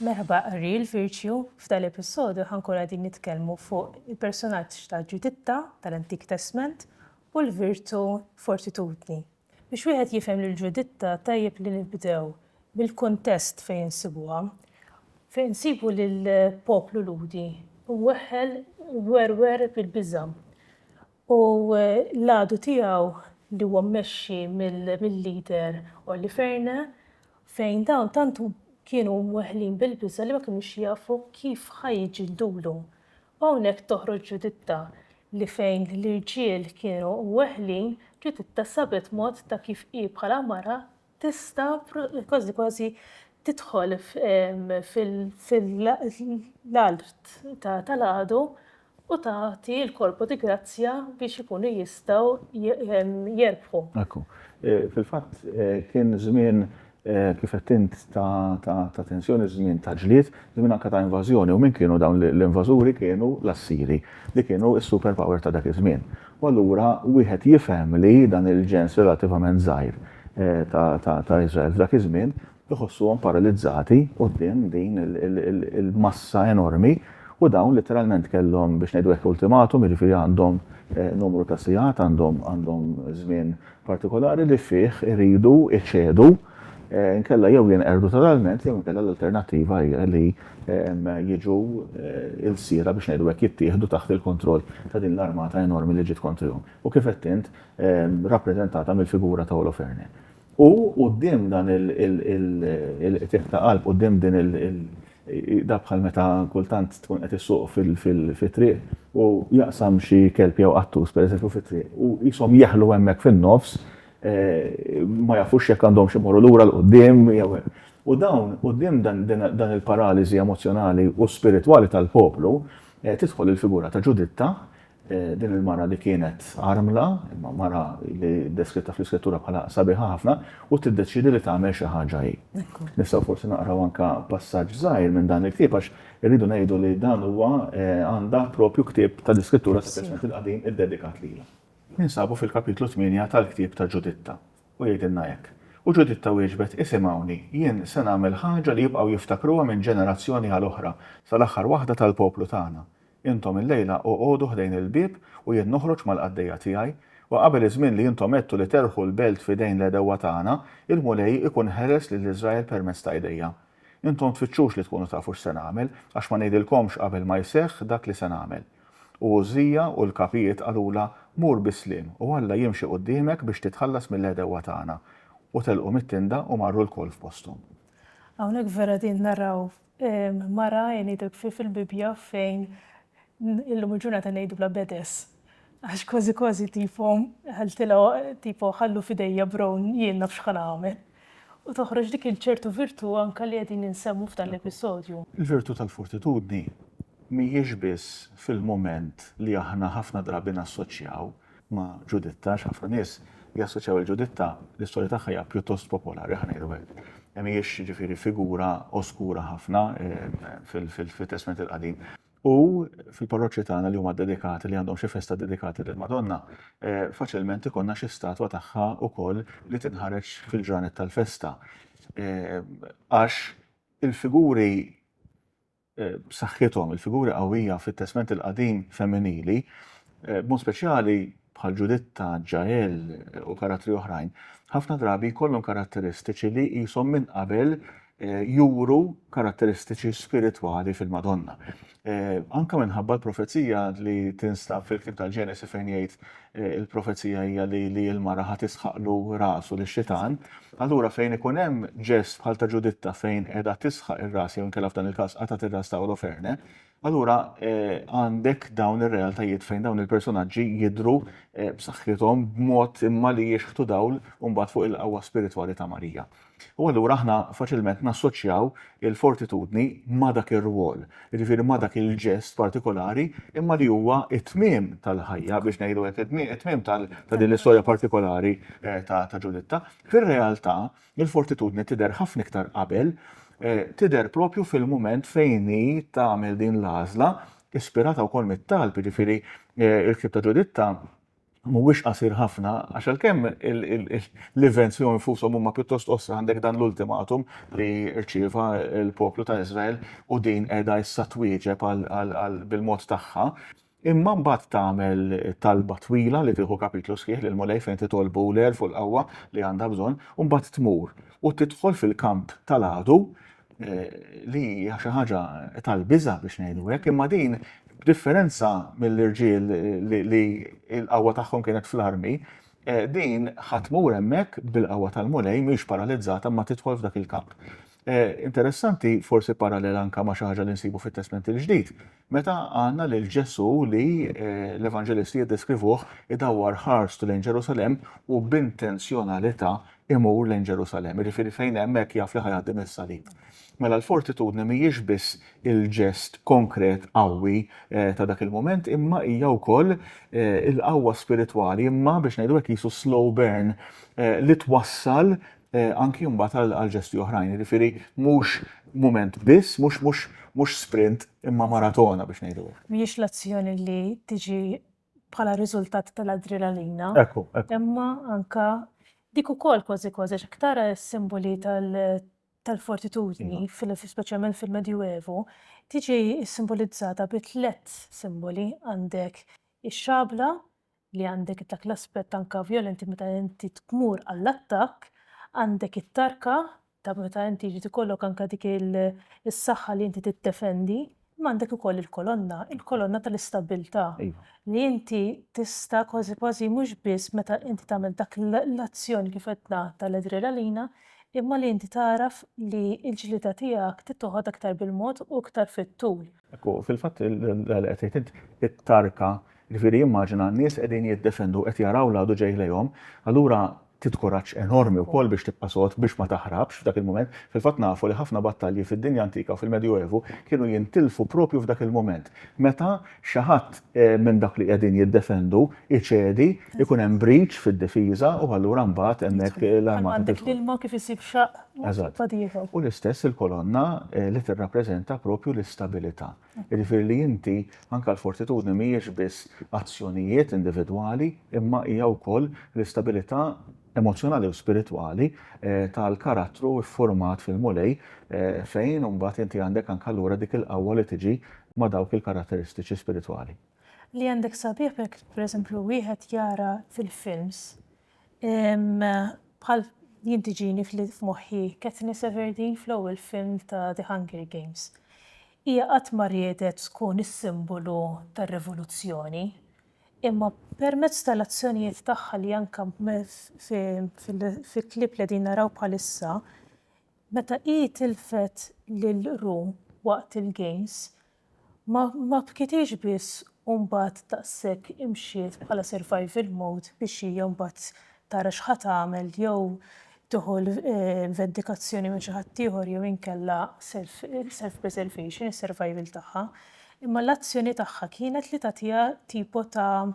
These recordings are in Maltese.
Merħba qari l-Virtue, f'dan l-episodju ħankun qegħdin nitkellmu fuq il-personaġġ ta' Ġuditta tal-Antik Testment u l-virtu fortitudni. Biex wieħed jifhem lil Ġuditta tajjeb li nibdew bil-kuntest fejn insibuha. Fejn insibu lill-poplu Lhudi mweħħel werwer bil-biża'. u l-għadu tiegħu li huwa mmexxi mill-leader Olli Fearne fejn dawn tant kienu mweħħlin bil-biża' li ma kinux jafu kif ħa jiġġildulu. U hawnhekk toħroġ Ġuditta li fejn l-irġiel kienu mweħħlin, Ġuditta sabet mod ta' kif hi bħala mara tista' kważi kważi tidħol fil-art tal-għadu u tagħti l-Corpo di Grazia biex ikunu jistgħu jerbħu. Ekku. Fil-fatt kien żmien kif għedt int ta' tensjoni, żmien ta' ġlied, żmien anke ta' invażjoni u min kienu dawn l-invażuri kienu l-Assiri li kienu s-superpower ta' dak iż-żmien. U allura wieħed jifhem li dan il-ġens relattivament żgħir ta' Iżrael f'dak iż-żmien iħossuhom paralizzati quddiem din il-massa enormi u dawn litteralment kellhom, biex ngħidu hekk, ultimatum, jiġifieri għandhom numru ta' sigħat, għandhom żmien partikolari li fih iridu jċedu inkella jew jinqerdu totalment jew inkella l-alternattiva hija li jiġu l-sira biex ngħidu hekk jittieħdu taħt il-kontroll ta' din l-armata enormi li ġiet kontrihom u kif għedt int rappreżentata mill-figura ta' Holofernes. U quddiem dan il-qtigħ ta' qalb, quddiem din il- Dak bħal meta kultant tkun qed issuq fit-triq u jaqsam xi kelb jew qattus pereżempju fit-triq u qishom jeħlu hemmhekk fin-nofs ma jafux jekk għandhomx imorru lura 'l quddiem jew hekk. U dawn quddiem dan il-paraliżi emozzjonali u spiritwali tal-poplu tidħol il-figura ta' Ġuditta Din il-mara li kienet armla, imma mara li deskritta fl-Iskrittura bħala sabiħa ħafna, u tiddeċiedi li tagħmel xi ħaġa hi. Nistgħu forsi naqraw anke passaġġ żgħir minn dan il-ktieb għax irridu ngħidu li dan huwa għandha proprju ktieb ta' l-Iskrittura, speċjalment il-Qadim, iddedikat lilha. Ninsabu fil-kapitlu tmienja tal-ktieb ta' Ġuditta, u jgħidilna hekk, U Ġuditta wieġbet, Isimgħuni, jien se nagħmel ħaġa li jibqgħu jiftakruha minn ġenerazzjoni għal oħra, sal-aħħar waħda tal-poplu tagħna. Intom illejla oqogħdu ħdejn il-bieb u jien noħroġ mal-qaddejja tiegħi, u qabel iż-żmien li intom għedtu li terħu l-belt f'idejn l-għedewwa tagħna, il-Mulej ikun ħeles lil Iżrael permezz ta' idejja. Intom tfittxux li tkunu tafu x'se nagħmel, għax ma ngħidilkomx qabel ma jseħħ dak li se nagħmel. U Għużżija u l-kapijiet qalulha, Mur bis-sliem, u Alla jimxi quddiemek biex titħallas mill-għedewwa tagħna. U telqu mit-tinda u marru lkoll f'posthom. Hawnhekk vera qegħdin naraw Mara, ngħidlek, fil-Bibbja fejn illum il-ġurnata ngħidulha bedes. Għax kważi kważi tipo ħaltilha tipo ħallu f'idejja brown jien naf x'ħa nagħmel. U toħroġ dik il-ċertu virtù anke li qegħdin insemmu f'dan l-episodju. Il-virtù tal-fortitudni mhijiex biss fil-mument li aħna ħafna drabi nassoċjaw ma' Ġuditta għax ħafna nies jassoċjaw lil Ġuditta, l-istorja tagħha hija pjuttost popolari, ħa ngħidu hekk. Mhijiex jiġifieri figura oskura ħafna fit-Testment il-Qadim. U fil-parroċċi tagħna li huma dedikati, li għandhom xi festa dedikati lill-Madonna, faċilment ikollna xi statwa tagħha wkoll li tinħareġ fil-ġranet tal-festa. Għax il-figuri b'saħħithom, il-figuri qawwija fit-Testment il-Qadim femminili, b'mod speċjali bħal Ġuditta, Ġael u karattri oħrajn, ħafna drabi jkollhom karatteristiċi li qishom minn qabel eh, juru karatteristiċi spiritwali fil-Madonna. Eh, anka minħabba l-profezija li tinstab fil-kib tal-Ġenesi fejn jgħid il-profezija hija li li l-mara ħa tisħaqlu rasu li xitan Allura fejn ikun hemm ġest bħal ta' Ġuditta fejn qiegħda tisħaq ir-ras jew inkella f'dan il-każ qatgħet ir-ras ta' Oloferne, allura għandek dawn ir-realtajiet fejn dawn il-personaġġi jidhru b'saħħithom b'mod imma li jixħtu dawl imbagħad fuq il-qawwa spiritwali ta' Marija. U allura aħna faċilment nassoċjaw il-fortitudni ma' dak ir-rwol, jiġifieri ma' dak il-ġest partikolari, imma li huwa t-tmiem tal-ħajja, biex ngħidu hekk, it-tmiem ta' din l-istorja partikolari ta' Ġuditta. Fir-realtà, il-fortitudni tidher ħafna iktar qabel, tidher proprju fil-mument fejn hi tagħmel din l-għażla, ispirata wkoll mit-talb, jiġifieri l-ktieb ta' Ġuditta, mhuwiex qasir ħafna għax għalkemm l-events fihom infushom huma pjuttost qosra għandek dan l-ultimatum li rċieva l-poplu ta' Iżrael u din qiegħda issa twieġeb bil-mod tagħha. Imma mbagħad tagħmel talba twila li tieħu kapitlu sħiħ lil Mulej fejn titolbu l-għerf u l-qawwa li għandha bżonn u mbagħad tmur u tidħol fil-kamp tal-għadu li hija xi ħaġa tal-biża biex ngħidu hekk, imma din b'differenza mill-irġiel li l-qawwa tagħhom kienet fl-armi, eh, din ħatmur hemmhekk bil-qawwa tal-Mulej mhix paralizzata ma tidħol f'dak il-kamp. Eh, interessanti, forsi parallel anka ma xi ħaġa li nsibu fit-Testment il-Ġdid, Meta għandna lil Ġesù li l-Evanġelisti jiddeskrivuh idawwar ħarstu lejn Ġerusalemm u b'intenzjonalità imur lejn Ġerusalemm, jiġifieri fejn hemmhekk jaf li ħa jgħaddim is-salib. Mela l-fortitudni mhijiex biss il-ġest konkret qawwi ta' dak il-mument imma hija wkoll il-qawwa spiritwali imma biex ngħidu hekk qisu slow burn li twassal eh, anki mbagħad għal ġesti oħrajn, jiġifieri mhux mument biss, mhux mhux mhux sprint imma maratona biex ngħidu. Mhijiex l-azzjoni li tiġi bħala riżultat tal-adrenalina. Ekku, ekku. Imma anka dik ukoll kważi kważi x'aktara s-simboli tal-fortitudni, iva. speċjalment fil-Medjuevu, tiġi simbolizzata bi tliet simboli għandek ix-xabla, li għandek dak l-aspett anke vjolenti meta inti tmur għall-attakk, għandek it-tarka ta' meta inti jrid ikollok anke dik is-saħħa li inti tiddefendi, imma għandek ukoll il-kolonna, il-kolonna tal-istabbiltà. Li inti tista' kważi kważi mhux biss meta inti tagħmel dak l-azzjoni kif għedna tal-adrenalina, imma li inti tagħraf li l-ġlieda tiegħek trid toħodha aktar bil-mod u aktar fit-tul. Hekk hu, fil-fatt dak li qed tgħid int, it-tarka, jiġifieri immaġina n-nies qegħdin jiddefendu, qed jaraw l-għadu ġej lejhom, allura trid kuraġġ enormi wkoll biex tibqa' sod, biex ma taħrabx f'dak il-mument. Fil-fatt nafu li ħafna battalji fid-dinja antika u fil-Medjuevu kienu jintilfu proprju f'dak il-mument, meta xi ħadd minn dawk li qegħdin jiddefendu jċedi, ikun hemm breach fid-difiża u allura mbagħad hemmhekk l-armata tidħol. Bħalma għandek l-ilma kif isib xaqq Eżatt. U l-istess il-kolonna eh, li tirrappreżenta propju l-istabilità. Jiġifieri li inti anke l-fortitudni mhijiex biss azzjonijiet individwali, imma hija wkoll l-istabilità emozjonali u spiritwali eh, tal-karattru ffurmat fil-Mulej eh, fejn imbagħad inti għandek anke allura dik il-qawwa li tiġi ma' dawk il-karatteristiċi spiritwali. Li għandek sabiħ jekk pereżempju wieħed jara fil-films Bħal jien tiġini f'moħħi Katniss Everdeen fl-ewwel film ta' The Hunger Games. Hija qatt ma riedet tkun is-simbolu tar-rivoluzzjoni, imma permezz tal-azzjonijiet tagħha li anke fil-klipp li qegħdin naraw bħalissa, meta hi tilfet lil Rue waqt il-games, Ma ma bkitiex biss u mbagħad daqshekk imxiet bħala survival mode biex hija mbagħad tara x'ħa tagħmel jew tieħu l-vendikazzjoni minn xi ħaddieħor jew inkella self self preservation is-survival tagħha. Imma l-azzjoni tagħha kienet li tagħtiha tipo ta'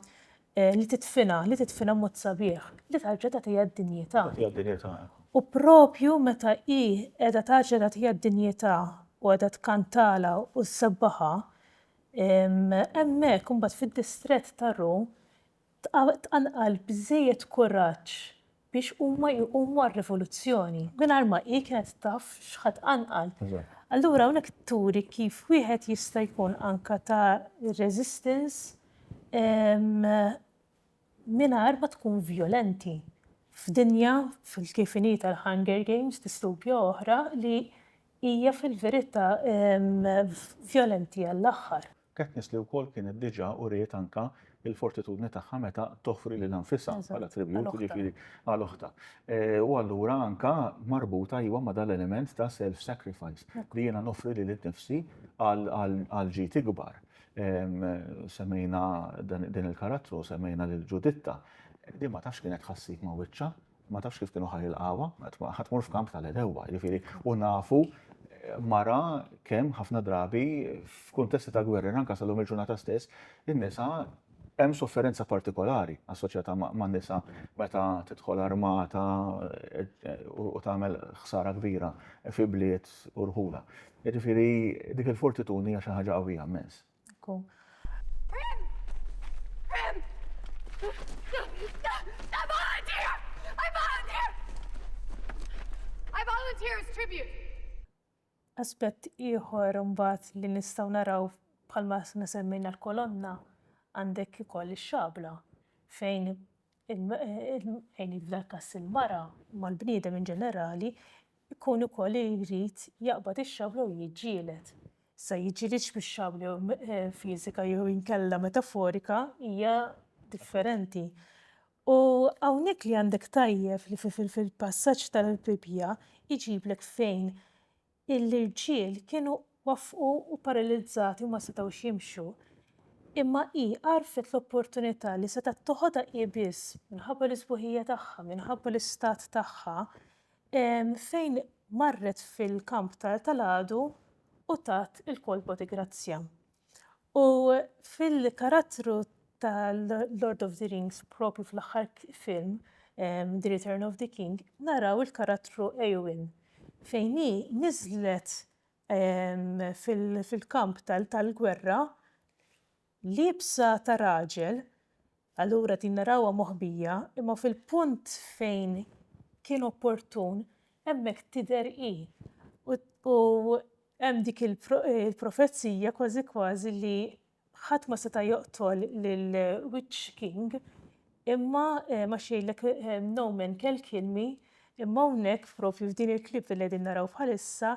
Li tidfinha, li tidfinha b'mod sabiħ, li tarġa' tagħtiha d-dinjità. Tagħtiha d-dinjità. U proprju meta hi qiegħda tarġa' tagħtiha d-dinjità u qiegħda tkantalha u ssebbaħha, hemmhekk imbagħad fid-distrett ta' Ru tqanqal biżżejjed kuraġġ biex huma jqumu għar-rivoluzzjoni, mingħajr ma hi kienet taf x'ħa tqanqal. Allura hawnhekk turi kif wieħed jista' jkun anke ta' resistance mingħajr ma tkun vjolenti f'dinja kif inhi tal-Hunger Games, distopja oħra li hija fil-verità vjolenti għall-aħħar. Katniss li wkoll kienet diġà uriet anke l-fortitudni tagħha meta toffri lilha nfisha bħala tribut, jiġifieri għal oħtha. U allura anke marbuta iva ma' dan l-element ta' self sacrifice li jiena noffri lili nnifsi għal ġid ikbar. Semmejna din il-karattru, semmejna lil Ġuditta, din ma tafx kienet tħassib ma' wiċċha, Ma tafx kif kienu ħajilqawha, ħa tmur f'kamp tal-edewwa, jiġifieri, u nafu mara kemm ħafna drabi f'kuntesti ta' gwerra, anka sal-lum il-ġurnata stess, in-nisa hemm sofferenza partikolari assoċjata ma' nisa meta tidħol armata u tagħmel ħsara kbira fi bliet u rħula. Jiġifieri dik il-fortituni hija xi ħaġa qawwija mmens. Aspett ieħor imbagħad li nistgħu naraw bħalma aħna semmejna l-kolonna għandek ukoll ix-xabla fejn fejn hi f'dan il-każ il-mara, imma l-bniedem in ġenerali, ikun ukoll li jrid jaqbad ix-xabla u jiġġieled. Issa jiġġielidx bix-xabla fiżika jew inkella metaforika hija differenti. U hawnhekk li għandek tajjeb li fil-passaġġ tal-Bibbja jġiblek fejn Il-irġiel kienu waffqu u paralizzati u ma setgħux jimxu, imma hi għarfet l-opportunità li setgħet toħodha hi biss, minħabba l-isbuħija tagħha, minħabba l-istat tagħha, fejn marret fil-kamp tal-għadu u tat il-kolpa ti' grazzja. U fil-karattru ta' Lord of the Rings, propju fl-aħħar film, The Return of the King, naraw il-karattru Eowyn, fejn hi niżlet fil-kamp tal-gwerra liebsa ta' raġel, Allura din narawha moħbija, imma fil-punt fejn kien opportun, hemmhekk tidher hi. U hemm dik il-profezija kważi kważi li ħadd ma seta' joqtol lill-Witch King imma għax jgħidlek no man can kill me, imma hawnhekk propju f'din il-clip li qegħdin naraw bħalissa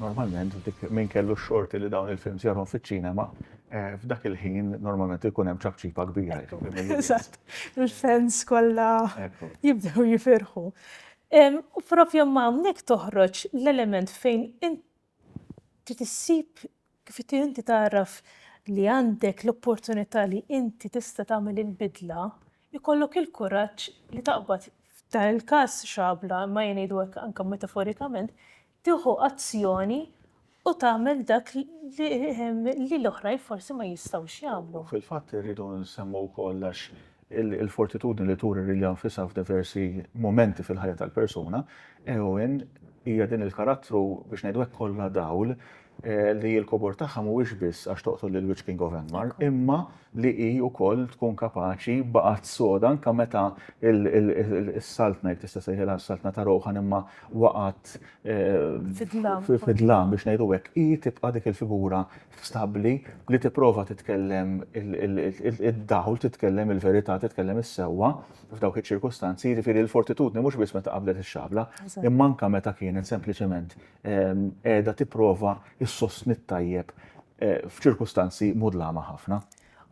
Normalment, dik minn kellu xorti li dawn il-films jarhom fiċ-ċinema, eh, f'dak il-ħin normalment ikun hemm ċapċipa kbira. Eżatt, il-fans kollha jibdew jifirħu. U propju ma' hawnhekk toħroġ l-element fejn trid issib Kif inti inti tagħraf li għandek l-opportunità li inti tista' tagħmel il-bidla, ikollok il-kuraġġ li taqbad, f'dan il-każ xabla, imma jien ngħidu hekk anke metaforikament, tieħu azzjoni u tagħmel dak li l-oħrajn forsi ma jistgħux jagħmlu. Fil-fatt irridu nsemmgħu wkoll għax Il-fortitudni li turi lilha nfisha f'diversi mumenti fil-ħajja tal-persuna, Eowyn hija din il-karattru biex ngħidu hekk kollha dawl li l-kobor tagħha mhuwiex biss għax toqtol lill-Witch King of Angmar, imma li hi wkoll tkun kapaċi baqgħet soda anke meta s-Saltna, jekk tista' ssejħilha s-Saltna ta' Rohan imma waqgħet fid-dlam biex ngħidu hekk, hi tibqa' dik il-figura stabbli li tipprova titkellem id-dawl, titkellem il-verità, titkellem is-sewwa f'dawk iċ-ċirkustanzi, jiġifieri l-fortitudni mhux biss meta qabdet ix-xabla, imma anke meta kienet sempliċement qiegħda tipprova ssostni t-tajjeb f'ċirkustanzi mudlama ħafna.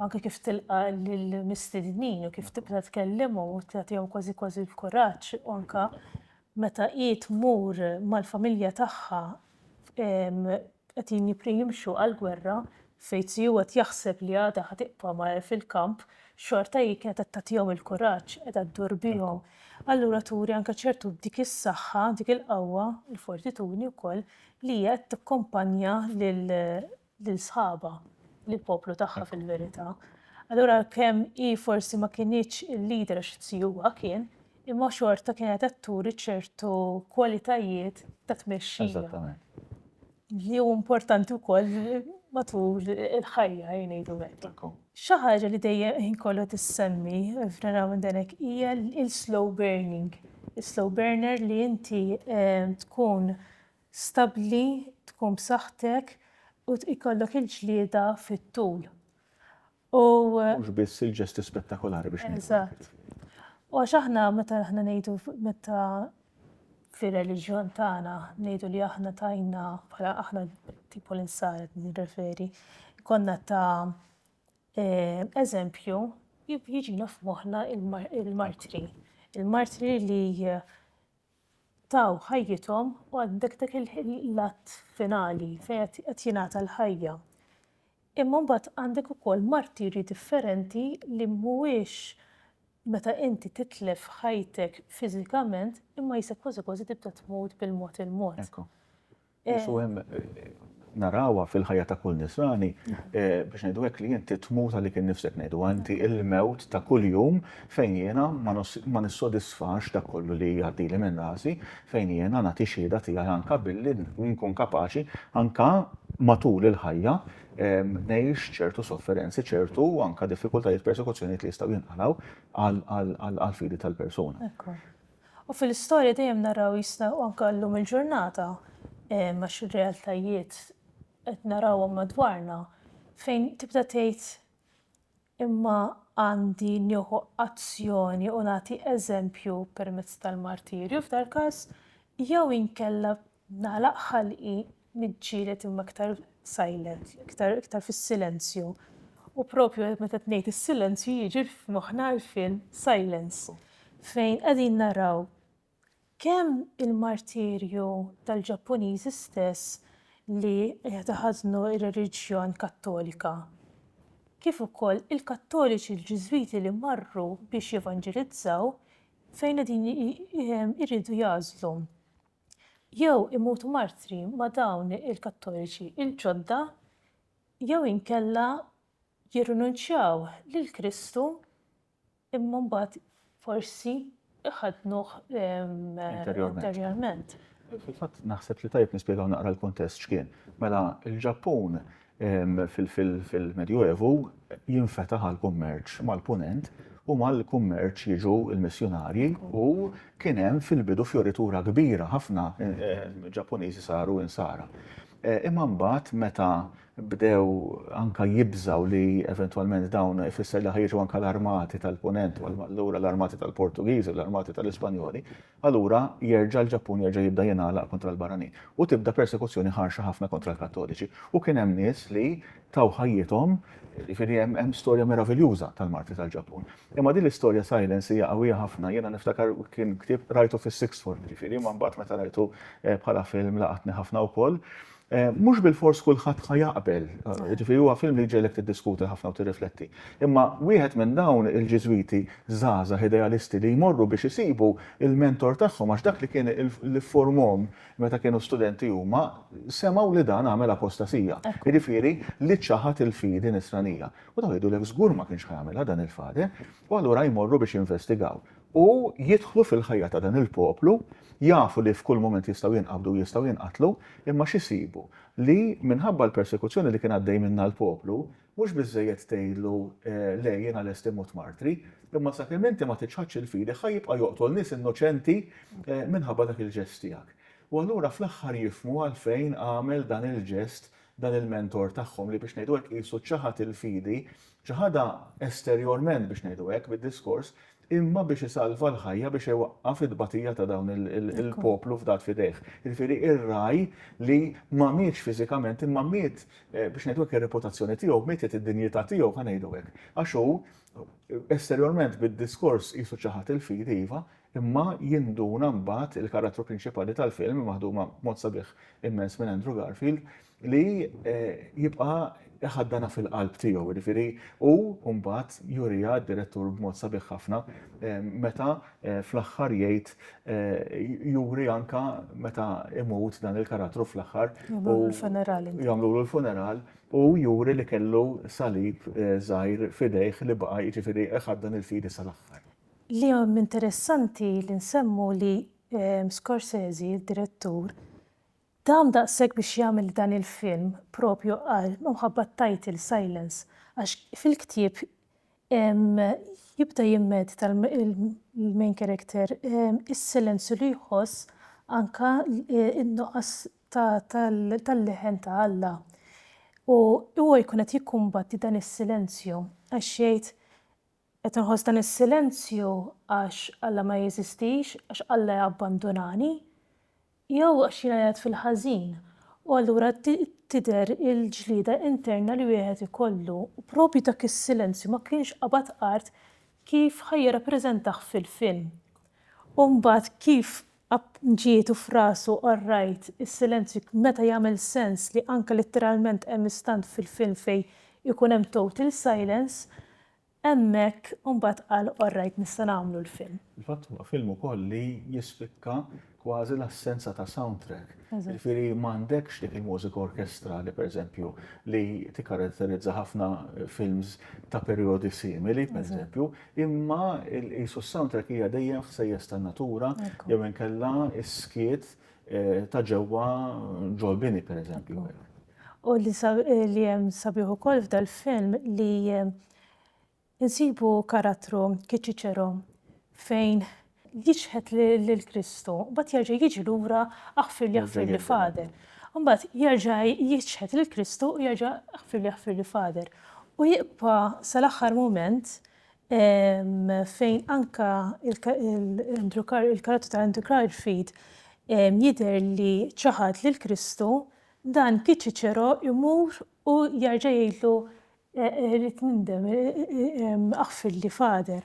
Anke kif tilqa' lill-mistednin u kif tibda tkellimhom u tagħtihom kważi kważi l-kuraġġ anke Meta hi tmur mal-familja tagħha qegħdin jimxu għall-gwerra fejn Tsiu qed jaħseb li għadha ħa tibqa' fil-kamp, xorta hi kienet qed tagħtihom il-kuraġġ, qiegħda ddur bihom. Allura turi anke ċertu dik is-saħħa, dik il-qawwa, il-fortitudni wkoll li hija qed tikkumpanja lil sħabha, lill-poplu tagħha fil-verità. Allura għalkemm hi forsi ma kinitx il-leader għax zjuha kien, imma xorta kienet qed turi ċertu kwalitajiet ta' tmexxija. Li hu importanti wkoll matul il-ħajja ngħidu hekk. Xi ħaġa li dejjem ħin kollu tissemmi f'Naraw minn dan hekk hija l-slow burning. Is-slow burner li inti tkun stabbli, tkun b'saħħtek u ikollok il-ġlieda fit-tul. U. Mhux biss il-ġesti spettakolari biex ngħidu. Eżatt. U għax aħna meta aħna ngħidu meta fir-reliġjon tagħna ngħidu li aħna tajna bħala aħna tipo l-insara nirreferi, konna ta' eh, eżempju jiġina f'moħħna il-martri. Il-martri li taw ħajjithom u għandek dak il-lat finali fejn qed jingħata l-ħajja. Imma mbagħad għandek ukoll martirji differenti li mhuwiex meta inti titlef ħajtek fiżikament imma jisek kważi kważi tibda tmut bil-mod il-mod. Ġesu' hemm narawha fil-ħajja ta' kull nisrani biex ngħidu hekk li inti tmut għalik innifsek ngħidu inti il-mewt ta' kuljum fejn jiena ma nissodisfax dak kollu li jgħaddili minn rasi fejn jiena nagħti xhieda tiegħi anke billi nkun kapaċi anke matul il-ħajja ngħix ċertu sofferenzi ċertu anke diffikultajiet persekuzzjonijiet li jistgħu jinqalgħu għall-fidi tal-persuna. U fil-istorja dejjem naraw jista' u anke llum il-ġurnata għax ir-realtajiet qed narawhom madwarna fejn tibda tgħid imma għandi nieħu azzjoni u nagħti eżempju permezz tal-martirju f'dal-każ jew inkella Nagħlaq ħalqi, niġġieled imma iktar silent, iktar iktar fis-silenzju. U propju qed meta qed ngħid is-silenzju jiġi f'moħħna l-film Silence fejn qegħdin naraw kemm il-martirju tal-Ġappuniżi stess li qed iħażnu r-reliġjon Kattolika kif ukoll il-Kattoliċi l-Ġiżwiti li marru biex jevanġelizzaw fejn qegħdin iridu jagħżlu jew imutu martri ma' dawn il-Kattoliċi l-ġodda jew inkella jirrinunċjaw lil Kristu imma mbagħad forsi jħaddnuh interjorment. Fil-fatt naħseb li tajjeb nispjegaw naqra l-kuntest x'kien. Mela l-Ġappun fil-Medjuevu jinfetaħ għall-kummerċ mal-Punent u mal-kummerċ jiġu l-missjunarji u kien hemm fil-bidu fjoritura kbira ħafna Ġappuniżi saru Insara. Imma mbagħad meta bdew anke jibżgħu li eventwalment dawn ifisser li ħa jiġu anke l-armati tal-Punent u allura l-armati tal-Portugiżi u l-armati tal-Ispanjoli, allura jerġa' l-Ġappun jerġa' jibda jingħalaq kontra l-barranin u tibda persekuzzjoni ħarxa ħafna kontra l-Kattoliċi. U kien hemm nies li taw ħajjithom, jiġifieri hemm hemm storja meraviljuża tal-martri tal-Ġappun. Imma din l-istorja Silence hija qawwija ħafna, jiena niftakar kien ktieb qrajtu fis-sixth form jiġifieri imma mbagħad meta rajtu bħala film laqatni ħafna wkoll. Mhux bilfors kulħadd ħa jaqbel, jiġifieri huwa film li jġegħlek tiddiskuti ħafna u tirrifletti. Imma wieħed minn dawn il-Ġiżwiti żgħażagħ idealisti li jmorru biex isibu l-mentor tagħhom għax dak li kien li fformhom meta kienu studenti huma semgħu li dan għamel apostasija, jiġifieri li ċaħad il-fidi nisranija. U dawn jgħidulek żgur ma kienx ħa jagħmilha dan il-Father u allura jmorru biex jinvestigaw. u jidħlu fil-ħajja ta' dan il-poplu, jafu li f'kull mument jistgħu jinqabdu u jistgħu jinqatlu, imma x'isibu? Li minħabba l-persekuzzjoni li kien għaddej minnha l-poplu, mhux biżżejjed tgħidlu, le, jiena lest immut martri, imma sakemm inti ma tiċħadx il-fidi ħa jibqa' joqtol nies innoċenti minħabba dak il-ġest tiegħek. U allura fl-aħħar jifhmu għalfejn għamel dan il-ġest dan il-mentor tagħhom li biex ngħidu hekk qisu ċaħad il-fidi Ċaħadha esterjorment biex ngħidu hekk bid-diskors, imma biex isalva l-ħajja biex iwaqqaf it-tbatija ta' dawn il-poplu fdat f'idejh. Jiġifieri ir-ragħaj li ma mietx fiżikament imma miet biex ngħidu hekk ir-reputazzjoni tiegħu, mietet id-dinjità tiegħu ħa ngħidu hekk. Għax hu esterjorment bid-diskors qisu ċaħad il-fidi iva, imma jinduna mbagħad, il-karattru prinċipali tal-film, maħduma b'mod sabiħ immens minn Andrew Garfield, li jibqa' iħaddanha fil-qalb tiegħu. Jiġifieri hu mbagħad juriha d-direttur b'mod sabiħ ħafna meta fl-aħħar jgħid juri anke meta imut dan il-karattru fl-aħħar jagħmlulu l-funeral u juri li kellu salib żgħir f'idejh li baqa' jiġifieri iħaddan il-fidi sal-aħħar. Li hemm interessanti li nsemmu li Scorsese, id-direttur, Dam daqshekk biex jagħmel dan il-film propju għal minħabba t-title Silence għax fil-ktieb jibda jimmedita l-main character is-silenzju li jħoss anke n-nuqqas tal-leħen ta' Alla. U huwa jkun qed jikkumbatti dan is-silenzju għax jgħid Qed inħoss dan is-silenzju għax Alla ma jeżistix, għax Alla jabbandunani, jew għax jiena qiegħed fil-ħażin? U allura tidher il-ġlieda interna li wieħed ikollu. U propju dak is-silenzju ma kienx qabad art kif ħa jirrappreżentah fil-film. U mbagħad kif App ġiet u f'rasu qarrajt is-silenzju meta jagħmel sens li anke litteralment hemm istant fil-film fejn ikun hemm total silence, hemmhekk u mbagħad qal orrajt nista' nagħmlu l-film. Fil-fatt huwa film ukoll li jispikka kważi l-assenza ta' soundtrack. Jiġifieri m'għandekx dik il-mużika orkestrali pereżempju li tikkaratterizza ħafna films ta' perjodi simili pereżempju, Imma qisu s-soundtrack hija dejjem ħsejjes tan-natura jew inkella s-skiet ta' ġewwa ġol bini pereżempju. U li hemm sabiħ ukoll f'dal-film li insibu karattru Kiċiċero fejn jiċħed lil Kristu, mbagħad jerġa' jiġi lura aħfirli aħfirli Father. Mbagħad jerġa' jiċħed lil Kristu u jerġa' aħfirli aħfirli Father. U jibqa' sal-aħħar mument fejn anka il-karattru ta' Andrew Garfield jidher li ċaħad lil Kristu, dan Piet Ċiċero jmur u jerġa' jgħidlu rrid nindem, aħfirli Father.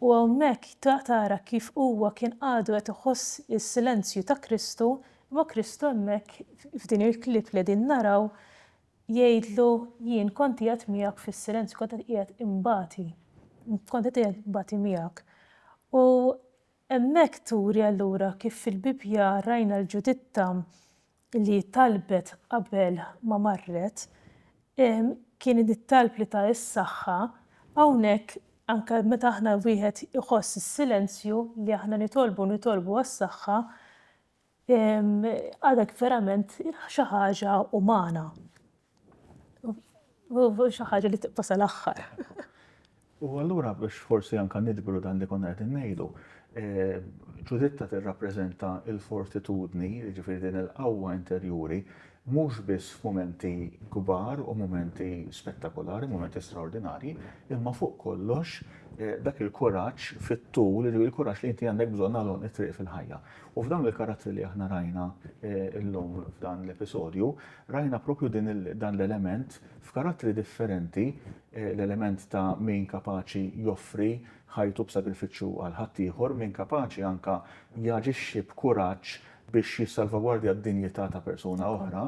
U hawnhekk tara kif huwa kien għadu qed iħoss is-silenzju ta' Kristu, imma Kristu hemmhekk f'din il-clip li qegħdin naraw jgħidlu jien kont qiegħed miegħek fis-silenzju, kont qed qiegħed inbati, kont qed qiegħed inbati miegħek. U hemmhekk turi allura kif fil-Bibbja rajna l-Ġuditta li talbet qabel ma marret kien it-talb li ta s-saħħa, hawnhekk anke meta aħna wieħed iħoss is-silenzju li aħna nitolbu nitolbu għas-saħħa għadek verament xi ħaġa umana. U xi ħaġa li tibqa' sal-aħħar. U allura biex forsi anke nidbru dan li konna qegħdin ngħidu, Ġuditta eh, tirrappreżenta l-fortitudni, jiġifieri din il-qawwa interjuri, mhux biss f'mumenti kbar u mumenti spettakolari, mumenti straordinarji, imma fuq kollox eh, dak il-kuraġġ fit-tul, il-kuraġġ li inti għandek bżonn għalhom it-triq fil-ħajja. U f'dawn il-karattri li aħna rajna eh, illum f'dan l-episodju, Rajna proprju din il, dan l-element f'karattri differenti, l-element ta' min kapaċi joffri ħajtu b'sagrifiċċju għal ħaddieħor, min kapaċi anke jaġixxi b'kuraġġ biex jissalvagwardja d-dinjità ta' persuna oħra,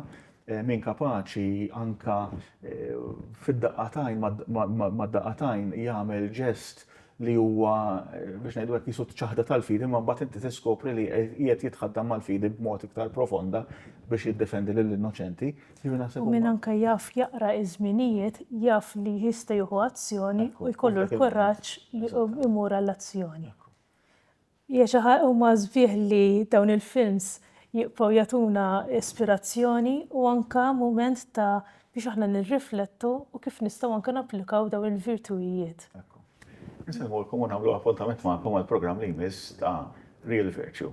min kapaċi anke fid-daqqa t'għajn, mad-daqqa t'għajn jagħmel ġest li huwa biex ngħidu hekk qisu ċaħda tal-fidi, imma mbagħad inti tiskopri li qiegħed jitħaddam mal-fidi b'mod iktar profonda biex jiddefendi lill-innoċenti. U min anke jaf jaqra ż-żminijiet jaf li jista' jieħu azzjoni u jkollu l-kuraġġ li imur għall-azzjoni. Hija xi ħa, huma sbieħ li dawn il-films jibqgħu jagħtuna ispirazzjoni u anke mument ta' biex aħna nirriflettu u kif nistgħu anke napplikaw dawn il-virtuijiet. Ekku. Insellmulkom u nagħmlu appuntament magħkom għall-programm li jmiss ta' Real Virtue.